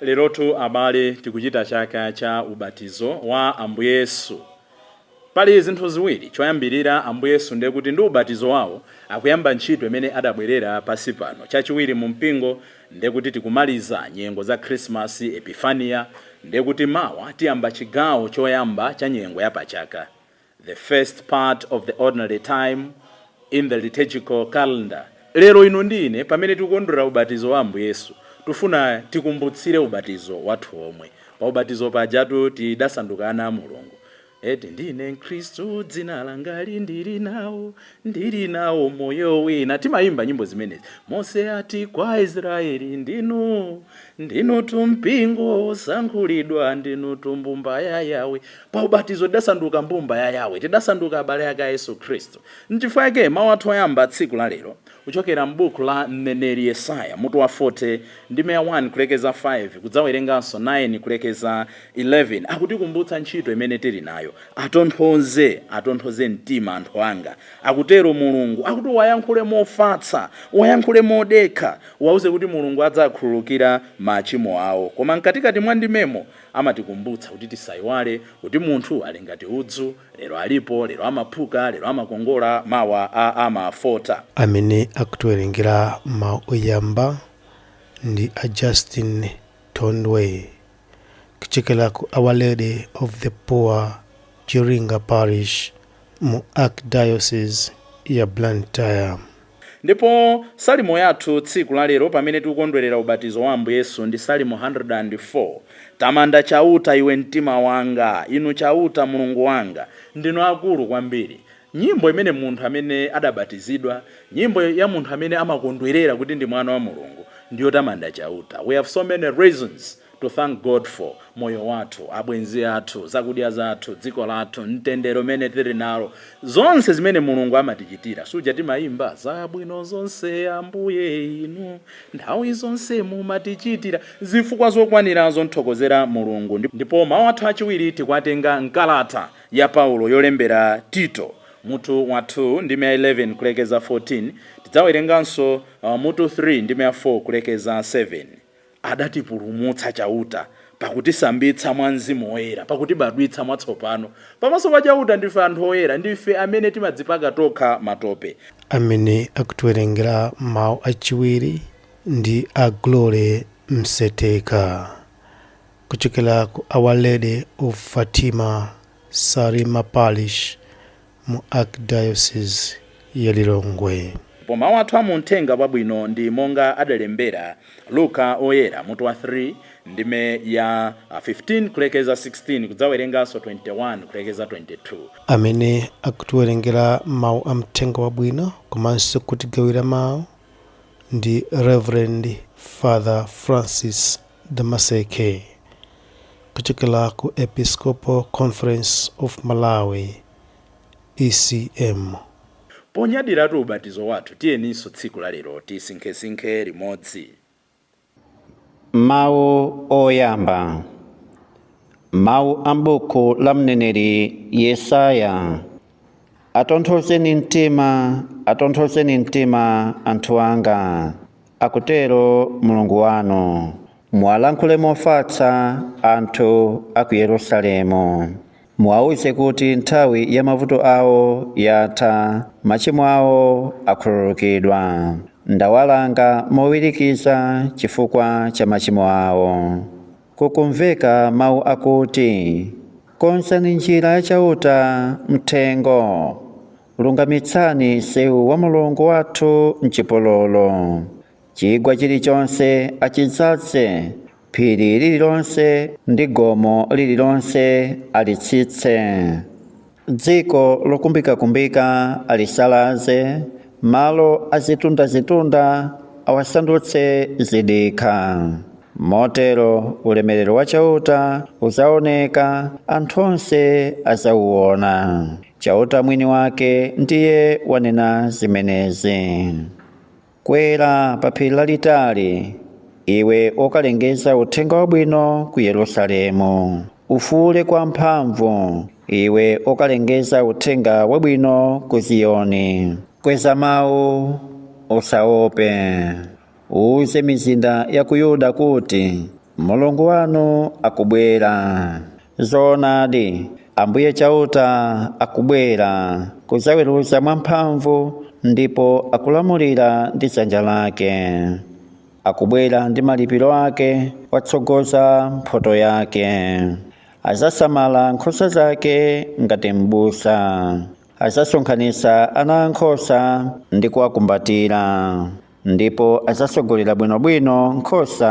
Lerotu abale tikuchita chaka cha ubatizo wa Ambuye Yesu. Pali zinthu ziwiri, choyambirira Ambuye Yesu ndiye kuti ndi ubatizo wawo akuyamba ntchito imene adabwerera pansi pano. Chachiwiri mu mpingo ndiye kuti tikumaliza nyengo za Khrisimasi, Epifania, ndiye kuti mawa tiyamba chigawo choyamba cha nyengo ya pachaka. The first part of the ordinary time in the liturgical calendar Lero inu ndi ine pamene tikukondwera ubatizo wa Ambuye Yesu, tufuna tikumbutsire ubatizo wathu womwe. Pa ubatizo pajatu tidasanduka ana a Mulungu. Eti, ndine mkhristu dzina langali ndili nawo, ndili nawo moyo wina. Timayimba nyimbo zimenezi. Mose ati kwa Israeli ndinu, ndinutu mpingo wosankhulidwa, ndinutu mbumba ya Yahweh. Pa ubatizo tidasanduka mbumba ya Yahweh, tidasanduka abale ake a Yesu Khristu. N'chifukwa chake mawu athu oyamba tsiku la lero kuchokera m'buku la m'neneri Yesaya, mutu wa 40, ndime ya 1 kulekeza 5, kudzawerenganso 9 kulekeza 11, akutikumbutsa ntchito imene tili nayo. Atonthoze, atonthoze mtima anthu anga, akutero Mulungu. Akuti uwayankhule mofatsa, uwayankhule modekha, uwauze kuti Mulungu adzawakhululukira machimo awo. Koma mkatikati mwa ndimemo. Amatikumbutsa kuti tisaiwale kuti munthu ali ngati udzu, lero alipo, lero amaphuka, lero amakongola, mawa a amafota. Amene akutiwerengera mawu oyamba ndi a Justin Thondwe kuchokera ku Our Lady of the Poor Chiringa Parish mu Archdiocese ya Blantyre. Ndipo Salimo yathu tsiku la lero pamene tikukondwerera ubatizo wa Ambuye Yesu ndi Salimo 104. Tamanda Chauta, iwe mtima wanga, Inu Chauta, Mulungu wanga, ndinu akulu kwambiri. Nyimbo imene munthu amene adabatizidwa, nyimbo ya munthu amene amakondwerera kuti ndi mwana wa Mulungu ndi yotamanda Chauta. We have so many reasons. to thank God for moyo wathu, abwenzi athu, zakudya zathu, dziko lathu, mtendere umene tili nalo, zonse zimene Mulungu amatichitira. Suja timayimba zabwino zonse Ambuye inu nthawi zonse mumatichitira. Zifukwa zokwanira zothokozera Mulungu. Ndipo mau athu achiwiri tikwatenga mkalata ya Paulo yolembera Tito, mutu wa 2 ndime ya 11 kulekeza 14. Tidzawerenganso mutu 3 ndime ya 4 kulekeza 7. Adatipulumutsa Chauta pakutisambitsa mwa Mzimu Woyera, pakutibadwitsa mwatsopano. Pamaso pa Chauta ndife anthu oyera, ndife amene timadzipaka tokha matope. Amene akutiwerengera mau achiwiri ndi a Glory Mseteka kuchokera ku Our Lady of Fatima Salima Parish mu Archdiocese ya Lilongwe. Ndipo mau athu a mu Mthenga Wabwino ndi monga adalembera Luka Woyera, mutu wa 3, ndime ya 15 kulekeza 16, kudzawerenganso 21 kulekeza 22. Amene akutiwerengera mau a Mthenga Wabwino komanso kutigawira mau ndi Rev. Father Francis Damaseke, kuchokera ku Episcopal Conference of Malawi, ECM. Ponyadiratu ubatizo wathu, tiyeninso tsiku la lero tisinkhesinkhe limodzi. Mawu Oyamba, Mawu a m'buku la mneneri Yesaya. Atonthozeni mtima, atonthozeni mtima anthu anga, akutero Mulungu wanu. Muwalankhule mofatsa anthu a ku Yerusalemu. Muwauze kuti nthawi ya mavuto awo yatha, machimo awo akhululukidwa. Ndawalanga mowirikiza chifukwa cha machimo awo. kukumveka mawu akuti, Konzani njira ya Chauta m'thengo, lungamitsani mseu wa Mulungu wathu m'chipululu. Chigwa chilichonse achidzaze, phiri lililonse ndi gomo lililonse alitsitse. Dziko lokumbikakumbika alisalaze, malo azitundazitunda awasandutse zidikha. Motero ulemerero wa Chauta udzaoneka, anthu onse adzauwona. Chauta mwini wake ndiye wanena zimenezi. Kwera pa phiri lalitali, iwe okalengeza uthenga wabwino ku Yerusalemu. Ufuule kwamphamvu, iwe okalengeza uthenga wabwino ku Ziyoni. Kweza mawu, usaope. Uuze mizinda ya ku Yuda kuti, Mulungu wanu akubwera. Zoonadi, Ambuye Chauta akubwera kudzaweruza mwamphamvu, ndipo akulamulira ndi dzanja lake. Akubwera ndi malipiro ake, watsogoza mphotho yake. Adzasamala nkhosa zake ngati m'busa. Adzasonkhanitsa ana ankhosa ndi kuwakumbatira. ndipo adzatsogolera bwinobwino nkhosa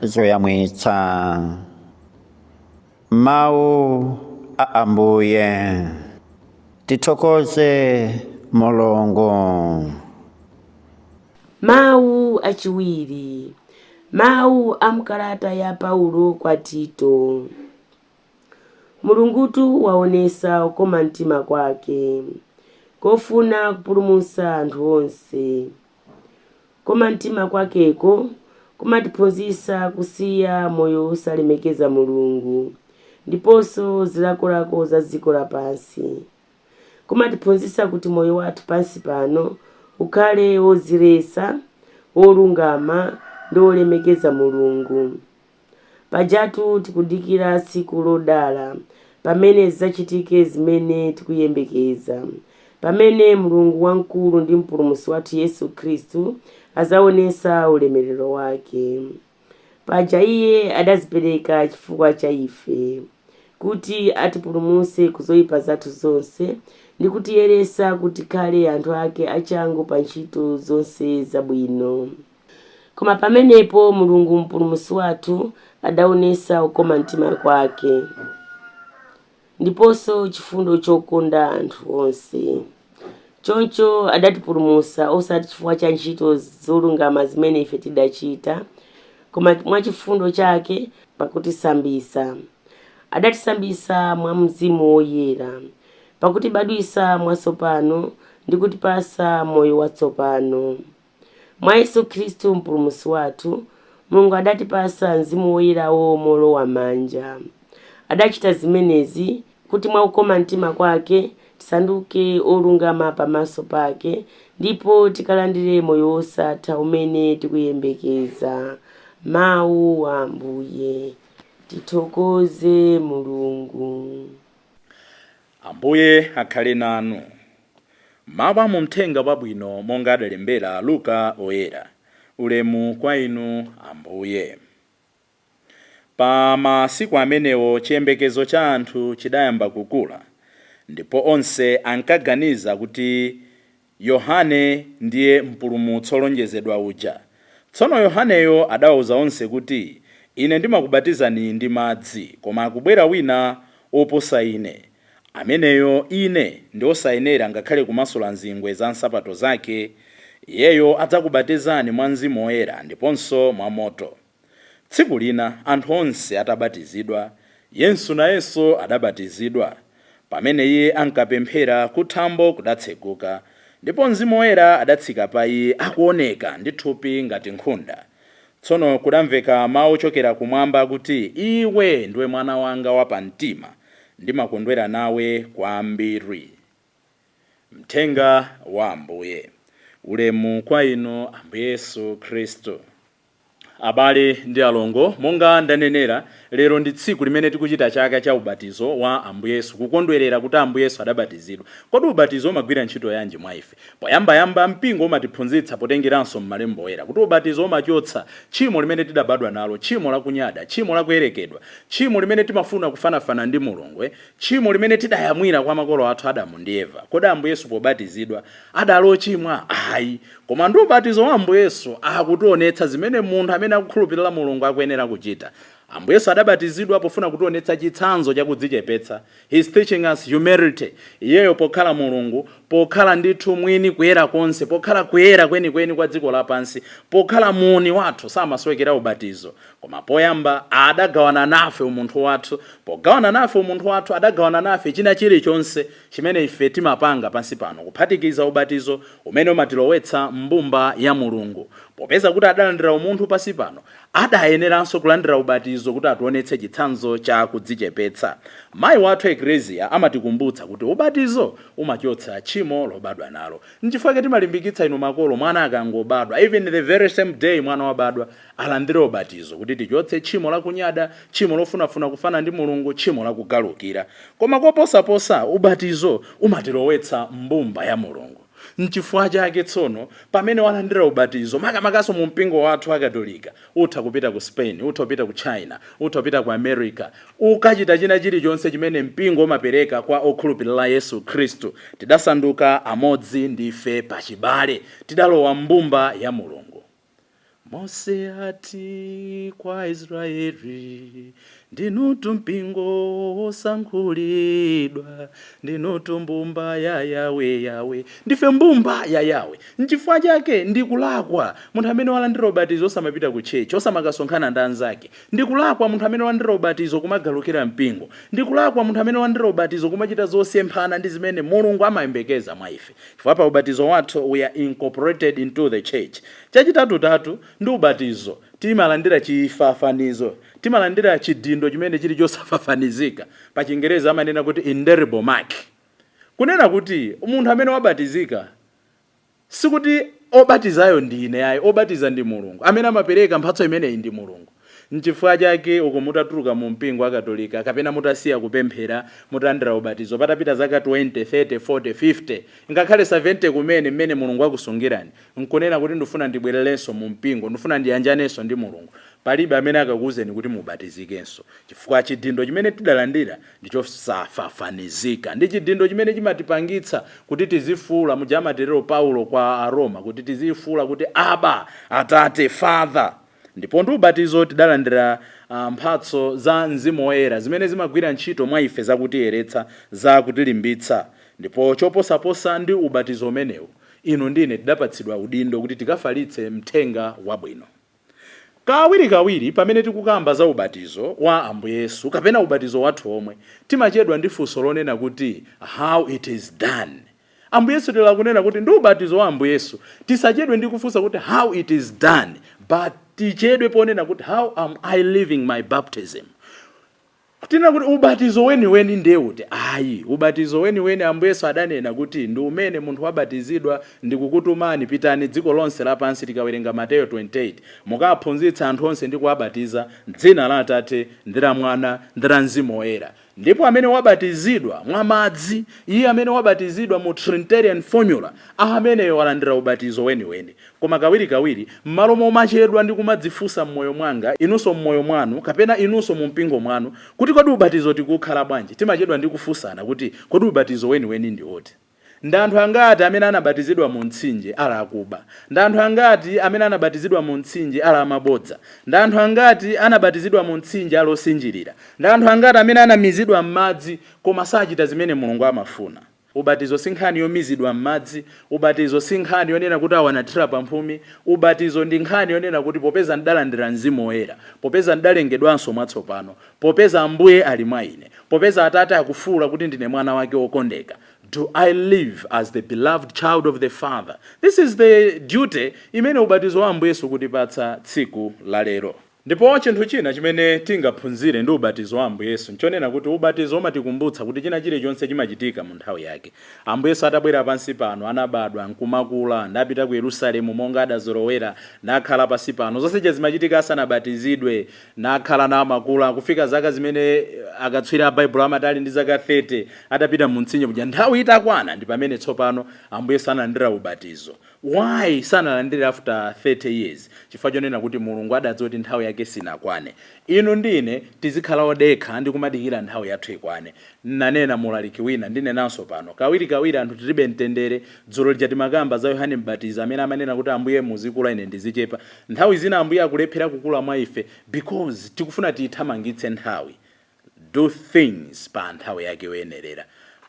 zoyamwitsa mawu a ambuye tithokoze mulungu mawu achiwiri mawu a mkalata ya paulo kwa tito Mulungutu waonetsa ukoma mtima kwake kofuna kupulumutsa anthu onse. Kukoma mtima kwakeko kumatiphunzitsa kusiya moyo osalemekeza Mulungu ndiponso zilakolako za dziko lapansi. Kumatiphunzitsa kuti moyo wathu pansi pano ukhale wodziletsa, wolungama ndi wolemekeza Mulungu. Pajatu tikudikira tsiku lodala pamene zidzachitike zimene tikuyembekeza, pamene Mulungu wamkulu ndi Mpulumutsi wathu Yesu Khristu adzaonetsa ulemerero wake. Paja Iye adadzipereka chifukwa cha ife, kuti atipulumutse ku zoipa zathu zonse ndi kutiyeretsa kuti tikhale anthu ake achangu pa ntchito zonse zabwino. Koma pamenepo Mulungu Mpulumutsi wathu adaonetsa kukoma mtima kwake, ndiponso chifundo chokonda anthu onse. Choncho adatipulumutsa, osati chifukwa cha ntchito zolungama zimene ife tidachita, koma mwa chifundo chake pakutisambitsa. Adatisambitsa mwa Mzimu Woyera, pakutibadwitsa mwatsopano ndi kutipatsa moyo watsopano. Mwa Yesu Khristu Mpulumutsi wathu, Mulungu adatipatsa Mzimu Woyerawo moolowa manja. Adachita zimenezi kuti mwa kukoma mtima kwake tisanduke olungama pamaso pake, ndipo tikalandire moyo wosatha umene tikuyembekeza. Mawu a Ambuye. Tithokoze Mulungu. Ambuye akhale nanu. Mawu a mu Mthenga wabwino monga adalembera Luka oyera. Ulemu kwa inu Ambuye. Pa masiku amenewo chiyembekezo cha anthu chidayamba kukula, ndipo onse ankaganiza kuti Yohane ndiye Mpulumutsi wolonjezedwa uja. Tsono Yohaneyo adawauza onse kuti, Ine ndimakubatizani ndi madzi, koma akubwera wina woposa ine. Ameneyo ine ndi osayenera ngakhale kumasula nzingwe za nsapato zake. Iyeyo adzakubatizani mwa Mzimu Woyera ndiponso mwa moto. Tsiku lina anthu onse atabatizidwa, Yesu nayenso adabatizidwa. Pamene iye ankapemphera, kuthambo kudatseguka, ndipo Mzimu Woyera adatsika pa iye akuoneka ndi thupi ngati nkhunda. Tsono kudamveka mau ochokera kumwamba kuti, Iwe ndiwe Mwana wanga wapamtima, ndimakondwera nawe kwambiri. Mthenga wa Ambuye. Ulemu kwa Inu, Ambuye Yesu Khristu. Abale ndi alongo, monga ndanenera, lero ndi tsiku limene tikuchita chaka cha ubatizo wa Ambuye Yesu, kukondwerera kuti Ambuye Yesu adabatizidwa. Kodi ubatizo umagwira ntchito yanji mwa ife? Poyambayamba, Mpingo umatiphunzitsa potengeranso m'Malembo Oyera kuti ubatizo umachotsa tchimo limene tidabadwa nalo, tchimo la kunyada, tchimo la kuyerekedwa, tchimo limene timafuna kufanafana ndi Mulungu, tchimo limene tidayamwira kwa makolo athu Adamu ndi Eva. Kodi Ambuye Yesu pobatizidwa Adali ochimwa? Ayi. Koma ndi ubatizo wa Ambuye Yesu akutionetsa zimene munthu amene akukhulupilira Mulungu akuyenera kuchita. Ambuye Yesu adabatizidwa pofuna kutionetsa chitsanzo cha kudzichepetsa, He is teaching us humility, Iyeyo pokhala Mulungu, pokhala ndithu Mwini kuyera konse, pokhala kuyera kwenikweni kwa dziko lapansi, pokhala muuni wathu samasowekera ubatizo. Koma poyamba adagawana nafe umunthu wathu. Pogawana nafe umunthu wathu adagawana nafe china chilichonse. chimene ife timapanga pansi pano, kuphatikiza ubatizo umene umatilowetsa m'mbumba ya Mulungu. Popeza kuti adalandira umunthu pansi pano, adayeneranso kulandira ubatizo kuti ationetse chitsanzo cha kudzichepetsa. Mayi wathu Eklesia amatikumbutsa kuti ubatizo umachotsa tchimo lobadwa nalo. Nchifukwa chake timalimbikitsa inu makolo, mwana akangobadwa, even the very same day mwana wabadwa, alandire ubatizo kuti tichotse tchimo la kunyada, tchimo lofunafuna kufana ndi Mulungu, tchimo la kugalukira. Koma koposaposa, ubatizo umatilowetsa m'mbumba ya Mulungu. N'chifukwa chake tsono, pamene walandira ubatizo, makamakanso mu mpingo wathu wa Katolika, utha kupita ku Spain, utha kupita ku China, utha kupita ku America, ukachita china chilichonse chimene mpingo umapereka kwa okhulupirira Yesu Khristu. Tidasanduka amodzi, ndife pachibale. Tidalowa m'mbumba ya Mulungu. Mose ati kwa Israeli, ndinutu mpingo wosankhulidwa, ndinutu mbumba ya Yawe. Yawe ndife mbumba ya Yawe. Nchifukwa chake ndikulakwa munthu amene walandira ubatizo osamapita ku tchetchi, osamakasonkhana ndi anzake. Ndikulakwa munthu amene walandira ubatizo kumagalukira mpingo. Ndikulakwa munthu amene walandira ubatizo kumachita zosemphana ndi zimene Mulungu amayembekeza mwa ife. Chifukwa pa ubatizo wathu we are incorporated into the church. Chachitatutatu ndi ubatizo timalandira chifafanizo, timalandira chidindo chimene chili chosafafanizika, pa chingerezi amanena kuti indelible mark. Kunena kuti munthu amene wabatizika sikuti obatizayo ndi ine ayi, obatiza ndi Mulungu, amene amapereka mphatso imeneyi ndi Mulungu. Nchifukwa chake uko mutatuluka mu mpingo wa Katolika, kapena mutasiya kupemphera, mutalandira ubatizo, patapita zaka twente, thirty, forte, fifte, ngakhale savente kumene, mmene Mulungu wakusungirani, nkunena kuti, Ndifuna ndibwererenso mu mpingo. Ndifuna ndiyanjanenso ndi Mulungu. Palibe amene akakuuzeni kuti mubatizikenso, chifukwa chidindo chimene tidalandira ndi chosafafanizika ndi chidindo chimene chimatipangitsa kuti tizifuula, muja amatero Paulo kwa Aroma, kuti tizifuula kuti, Abba, Atate, Father! Ndipo ndi ubatizo tidalandira mphatso za Mzimu Woyera, zimene zimagwira ntchito mwa ife za kutiyeretsa, za kutilimbitsa. Ndipo choposaposa ndi ubatizo umenewu, inu ndi ine tidapatsidwa udindo kuti tikafalitse Mthenga Wabwino. Kawirikawiri pamene tikukamba za ubatizo wa Ambuye Yesu kapena ubatizo wathu omwe, timachedwa ndi funso lonena kuti, How it is done? Ambuye Yesu tere akunena kuti ndi ubatizo wa Ambuye Yesu tisachedwe ndi kufunsa kuti how it is done but tichedwe ponena kuti how am I living my baptism. Tinena kuti ubatizo weniweni ndiye uti? Ayi, ubatizo weniweni Ambuye Yesu adanena kuti ndi umene munthu wabatizidwa ndikukutumani pitani dziko lonse lapansi tikawerenga Mateyo 28 mukaphunzitse anthu onse ndi kuwabatiza m'dzina la Atate ndi la Mwana ndi la Mzimu Woyera. Ndipo amene wabatizidwa mwa madzi, iye amene wabatizidwa mu Trinitarian formula, ameneyo walandira ubatizo weniweni. Koma kawirikawiri, mmalo momachedwa ndi kumadzifunsa mmoyo mwanga, inunso mmoyo mwanu, kapena inunso mu mpingo mwanu, kuti kodi ubatizo tikuukhala bwanji, timachedwa ndi kufunsana kuti, kodi ubatizo weniweni ndi uti? Ndi anthu angati amene anabatizidwa mu mtsinje, ali akuba? Ndi anthu angati amene anabatizidwa mu mtsinje, ali amabodza? Ndi anthu angati anabatizidwa mu mtsinje, ali osinjirira? Ndi anthu angati amene anamizidwa mmadzi, koma sachita zimene Mulungu amafuna? Ubatizo si nkhani yomizidwa mmadzi. Ubatizo si nkhani yonena kuti, Awa anathira pa mphumi. Ubatizo ndi nkhani yonena kuti, Popeza ndidalandira Mzimu Woyera, popeza ndidalengedwanso mwatsopano, Popeza Ambuye ali mwa ine, popeza Atate akufuula kuti ndine Mwana Wake wokondeka, do I live as the beloved child of the Father? This is the duty imene ubatizo wa Ambuye Yesu ukutipatsa tsiku la lero. Ndipo chinthu china chimene tingaphunzire ndi ubatizo wa Ambuye Yesu nchonena kuti ubatizo umatikumbutsa kuti china chirichonse chimachitika mu nthawi yake. Ambuye Yesu atabwera pansi pano, anabadwa, nkumakula, napita ku Yerusalemu monga adazolowera, nakhala pansi pano. Zonse zija zimachitika asanabatizidwe. nakhala namakula kufika zaka zimene akatswiri a Baibulo amati ali ndi zaka 30 atapita mu mtsinje kuja, nthawi itakwana ndi pamene tsopano Ambuye Yesu analandira ubatizo. Why sanalandire after 30 years? Chifukwa chonena kuti Mulungu adadziwa kuti nthawi yake sinakwane. Inu ndi ine tizikhala odekha ndi kumadikira nthawi yathu ikwane. Nnanena mu ulaliki wina, ndinenanso pano, kawiri kawiri anthu tilibe mtendere. Dzulo lija timakamba za Yohane Mbatizi amene amanena kuti Ambuye muzikula ine ndizichepa. Nthawi zina Ambuye akulephera kukula mwa ife because tikufuna tiithamangitse nthawi. Do things pa nthawi yake yoyenerera.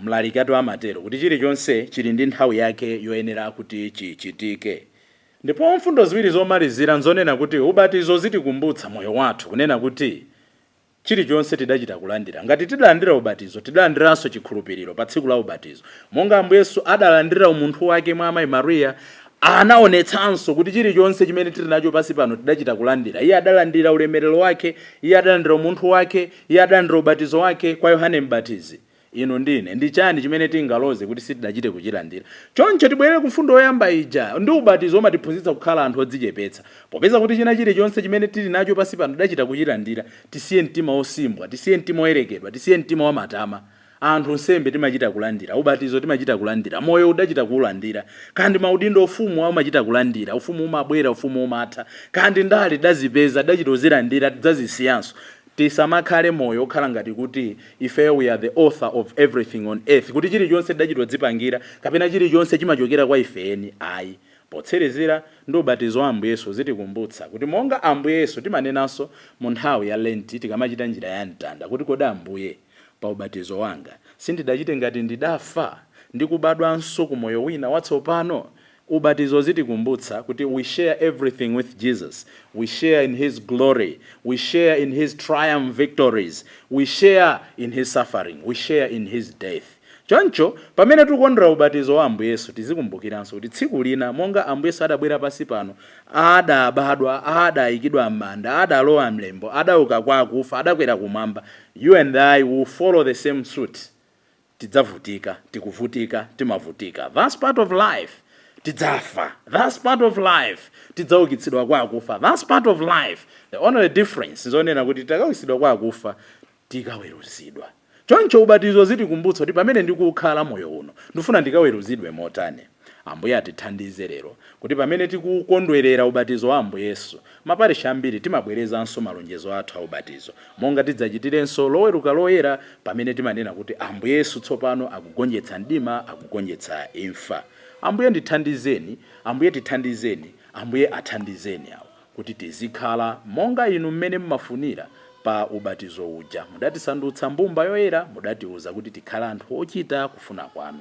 Mlalikatu amatero kuti chilichonse chili ndi nthawi yake yoyenera kuti chichitike. Ndipo mfundo ziwiri zomalizira nzonena kuti ubatizo uzitikumbutsa moyo wathu kunena kuti. chilichonse tidachita kulandira. Ngati tidalandira ubatizo, tidalandiranso chikhulupiriro pa tsiku la ubatizo. Monga Ambuye Yesu adalandira umunthu wake mwa amayi Maria, anaonetsanso kuti chilichonse chimene tili nacho pansi pano tidachita kulandira. Iye adalandira ulemerero wake, Iye adalandira umunthu wake, Iye adalandira ubatizo wake kwa Yohane Mbatizi. inu ndi ine. Ndi chani chimene tingaloze kuti sitidachite kuchilandira? Choncho tibwerere ku mfundo yoyamba ija ndi ubatizo umatiphunzitsa kukhala anthu odzichepetsa. Popeza kuti china chilichonse chimene tili nacho pansi pano tidachita kuchilandira, tisiye mtima osimbwa, tisiye mtima oyerekedwa, tisiye mtima wa matama. Anthu, nsembe timachita kulandira, ubatizo timachita kulandira, moyo uwu tidachita kuulandira, kaya ndi maudindo, ufumu umachita kulandira, ufumu umabwera, ufumu umatha, kaya ndi ndale tidazipeza, tidachita kuzilandira, tidzazisiyanso. Tisamakhale moyo okhala ngati kuti ifeyo we are the author of everything on earth, kuti chilichonse tidachita kudzipangira, kapena chilichonse chimachokera kwa ife eni ayi. Potsirizira ndi ubatizo wa Ambuye Yesu uzitikumbutsa kuti monga Ambuye Yesu timanenanso mu nthawi ya Lenti tikamachita njira ya mtanda kuti kodi Ambuye pa ubatizo wanga sindidachite ngati ndidafa ndi kubadwanso ku moyo wina watsopano? Ubatizo uzitikumbutsa kuti we share everything with Jesus, we share in His glory, we share in His triumph victories, we share in His suffering, we share in His death. Choncho, pamene tikukondwera ubatizo wa Ambuye Yesu, tizikumbukiranso kuti tsiku lina, monga Ambuye Yesu adabwera pansi pano, adabadwa, adayikidwa m'manda, adalowa m'limbo, adauka kwa akufa, adakwera kumwamba, you and I will follow the same suit tidzavutika, tikuvutika, timavutika, that's part of life, tidzafa, that's part of life, tidzaukitsidwa kwa akufa, that's part of life, the only difference nzonena kuti tikaukitsidwa kwa akufa tikaweruzidwa choncho ubatizo uzitikumbutsa kuti pamene ndikukhala moyo uno ndifuna ndikaweruzidwe motani. Ambuye atithandize lero kuti pamene tikukondwerera ubatizo wa Ambuye Yesu, maparishi ambiri timabwerezanso malonjezo athu a ubatizo, monga tidzachitirenso Loweruka Loyera pamene timanena kuti Ambuye Yesu tsopano akugonjetsa mdima, akugonjetsa imfa. Ambuye ndithandizeni, Ambuye tithandizeni, Ambuye athandizeni awo kuti tizikhala monga Inu mmene mumafunira pa ubatizo uja. Mudatisandutsa mbumba yoyera, mudatiuza kuti tikhale anthu ochita kufuna kwanu.